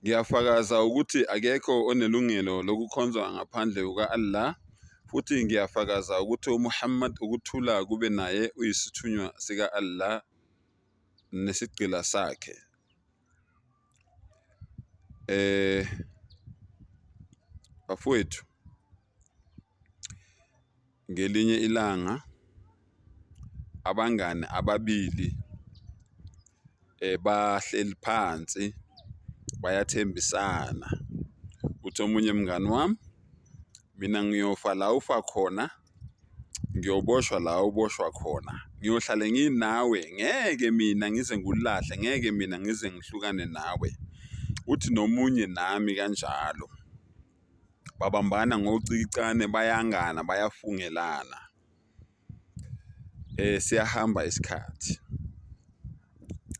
Ngiyafakaza ukuthi akekho onelungelo lokukhonzwa ngaphandle kuka-Allah, futhi ngiyafakaza ukuthi uMuhammad ukuthula kube naye uyisithunywa sika-Allah nesigqila sakhe. Eh bafowethu Ngelinye ilanga abangani ababili bahleli phansi bayathembisana ukuthi omunye mngani wami mina ngiyofa la ufa khona ngiyoboshwa la uboshwa khona ngiyohlale nginawe ngeke mina ngize ngikulahle ngeke mina ngize ngihlukane nawe uthi nomunye nami kanjalo. babambana ngocikicane bayangana bayafungelana. Siyahamba isikhathi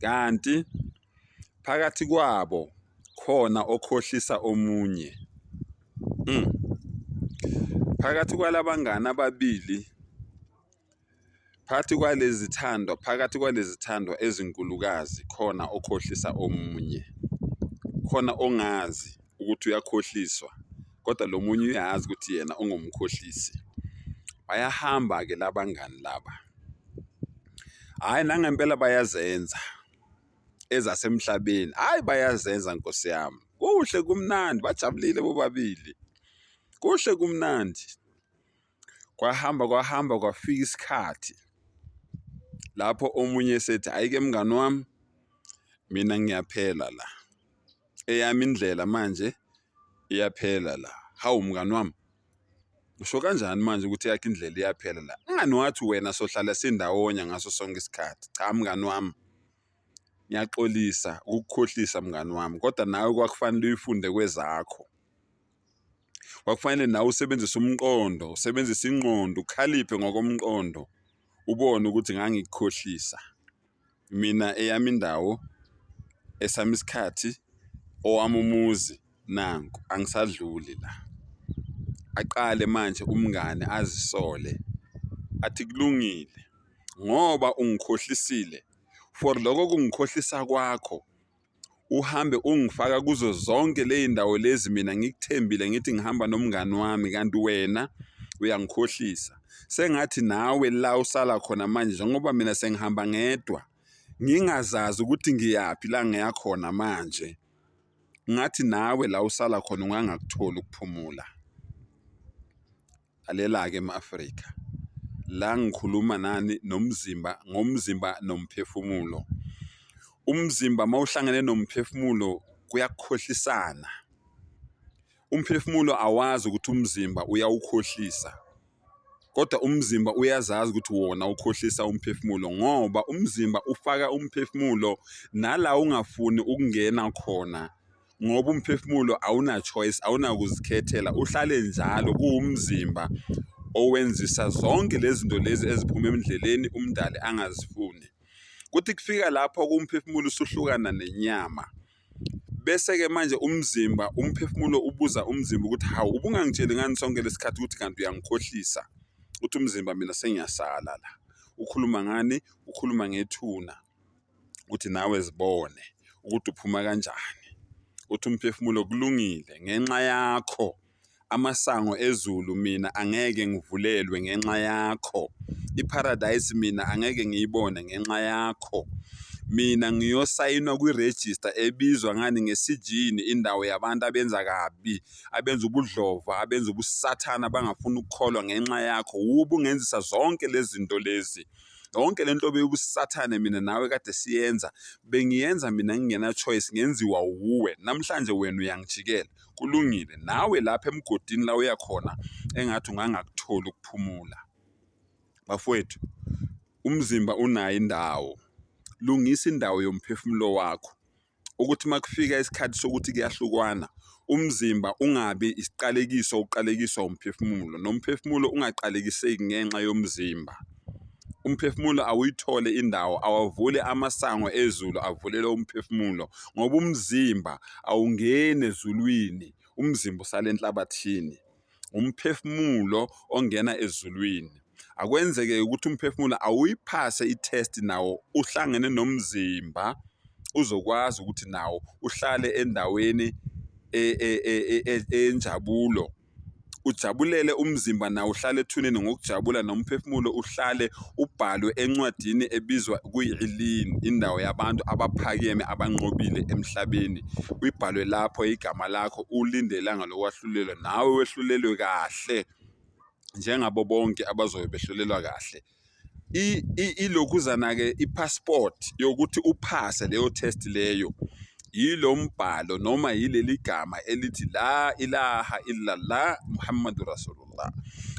kanti phakathi kwabo khona okhohlisa omunye. Phakathi kwala bangani ababili. Phakathi kwalezi zithandwa, phakathi kwalezi zithandwa ezinkulukazi khona okhohlisa omunye. Khona ongazi ukuthi uyakhohliswa kodwa lo munye uyazi ukuthi yena ungumkhohlisi. Bayahamba-ke la bangani laba. Hhayi nangempela bayazenza ezasemhlabeni, hhayi bayazenza nkosi yami. Kuhle kumnandi bajabulile bobabili. Kuhle kumnandi. Kwahamba kwahamba kwafika isikhathi lapho omunye esethi ayike mngani wami mina ngiyaphela la. Eyami indlela manje iyaphela la. Hawu mngani wami usho kanjani manje ukuthi yakhe indlela iyaphela la? Mngani wathi wena sohlala sindawonye ngaso sonke isikhathi. Cha mngani wami ngiyaxolisa ukukhohlisa mngani wami, kodwa nawe kwakufanele uyifunde kwezakho. kwakufanele nawe usebenzise umqondo usebenzise ingqondo ukhaliphe ngokomqondo ubone ukuthi ngangikukhohlisa mina eyami indawo esami isikhathi owami umuzi nanku angisadluli la aqale manje umngane azisole athi kulungile ngoba ungikhohlisile for loko kungikhohlisa kwakho uhambe ungifaka kuzo zonke ley'ndawo lezi mina ngikuthembile ngithi ngihamba nomngani wami kanti wena uyangikhohlisa. Sengathi nawe la usala khona manje njengoba mina sengihamba ngedwa ngingazazi ukuthi ngiyaphi la ngiya khona manje. Ngathi nawe la usala khona ungangakutholi ukuphumula. Lalela-ke ma-Afrika, la ngikhuluma nani nomzimba ngomzimba nomphefumulo. Umzimba uma uhlangene nomphefumulo kuyakhohlisana. Umphefumulo awazi ukuthi umzimba uyawukhohlisa kodwa umzimba uyazazi ukuthi wona ukhohlisa umphefumulo ngoba umzimba ufaka umphefumulo nala ungafuni ukungena khona. ngoba umphefumulo awuna-choice awunakuzikhethela uhlale njalo kuwumzimba owenzisa zonke lezi zinto lezi eziphuma emndleleni umndali angazifuni kuthi kufika lapho kumphefumulo usuhlukana nenyama bese-ke manje umzimba umphefumulo ubuza umzimba ukuthi hawu ubungangitsheli ngani sonke lesikhathi ukuthi kanti uyangikhohlisa ukuthi umzimba mina sengiyasala la ukhuluma ngani ukhuluma ngethuna. ukuthi nawe zibone ukuthi uphuma kanjani uthi umphefumulo kulungile ngenxa yakho amasango ezulu mina angeke ngivulelwe ngenxa yakho iparadise mina angeke ngiyibone ngenxa yakho mina ngiyosayinwa kwirejista ebizwa ngani ngesijini indawo yabantu abenza kabi abenza ubudlova abenza ubusathana abangafuni ukukholwa ngenxa yakho wubungenzisa zonke lezi zinto lezi. yonke le nto beyobusathane mina nawe kade siyenza bengiyenza mina ngingena-choice ngenziwa wuwe namhlanje wena uyangijikela kulungile nawe lapha emgodini la uya khona engathi ungangakutholi ukuphumula bafowethu umzimba unayo indawo lungisa indawo yomphefumulo wakho ukuthi uma kufika isikhathi sokuthi kuyahlukwana umzimba ungabi isiqalekiso uqalekiswa umphefumulo nomphefumulo ungaqalekiseki ngenxa yomzimba. Umphefumulo awuyithole indawo awavule amasango ezulu avulele umphefumulo ngoba umzimba awungeni ezulwini umzimba usale enhlabathini. umphefumulo ongena ezulwini akwenzeke ukuthi umphefumulo awuyiphase i-test nawo uhlangene nomzimba uzokwazi ukuthi nawo uhlale endaweni e- e- e- e- e- eyenjabulo ujabulele umzimba nawo uhlale ethuneni ngokujabula nomphefumulo uhlale ubhalwe encwadini ebizwa kuyi-Illin, indawo yabantu abaphakeme abanqobile emhlabeni. Uyibhalwe lapho igama lakho ulinde ilanga lokwahlulelwa nawe wehlulelwe kahle njengabo bonke abazobe behlulelwa kahle. Ilokhuzana-ke i-passport yokuthi uphase leyo test leyo yilo mbhalo noma yileli gama elithi la ilaha illallah Muhammadu Rasulullah. Allah.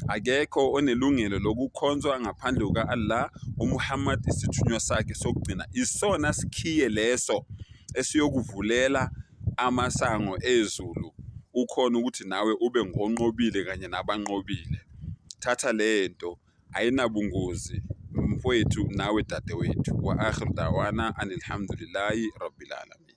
Akekho onelungelo lokukhonzwa ngaphandle kuka-Allah, uMuhammad isithunywa sakhe sokugcina. Isona sikhiye leso esiyokuvulela amasango ezulu ukhona ukuthi nawe ube ngonqobile kanye nabanqobile. Thatha le nto ayinabungozi mfowethu nawe dadewethu. Wa akhiru dawana anilhamdulillahi rabbil alamin.